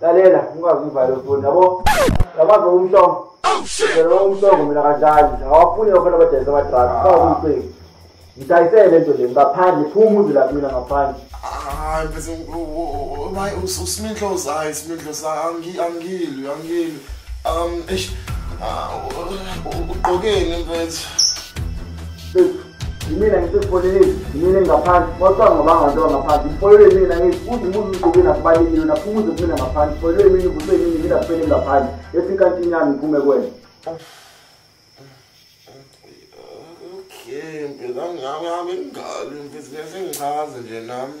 lalela ungazi ivale foni yabo yabazi umhlongo phela umhlongo mina kanjani awafuni yokhona abadayisa abadraki kawuyiqeki ngidayisele le nto le ngaphandle phuma umuzi lapho mina ngaphandle hayi bese maye usiminhlozi hayi isiminhlozi angilwi angilwi um eish ah, ugqokeni mfethu yimina ngisezifoneleni yimina engingaphansi wacanga ngobangantoa ngaphansi ifolelwe yimina ngithi uze ubuze umgqokeni akubaleki yona phumuze kumina ngaphansi ifolelwe yimina uvuswe yimina ngila kufele ngaphandle esinkantini yami ngiphume kwena okay mphela ngami ngami ngingabi mfethu ngiyasengichaze nje nami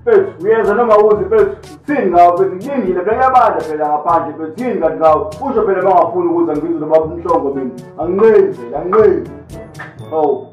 Mfethu, uyeza noma uzi mfethu. Thini ngawo mfethu, kulindile phela yabanda phela ngaphandle mfethu. Thini kanti ngawo? Usho phela bangafuni ukuza ngibize lo baba umhlongo mina. Anginqeni phela, anginqeni. Oh.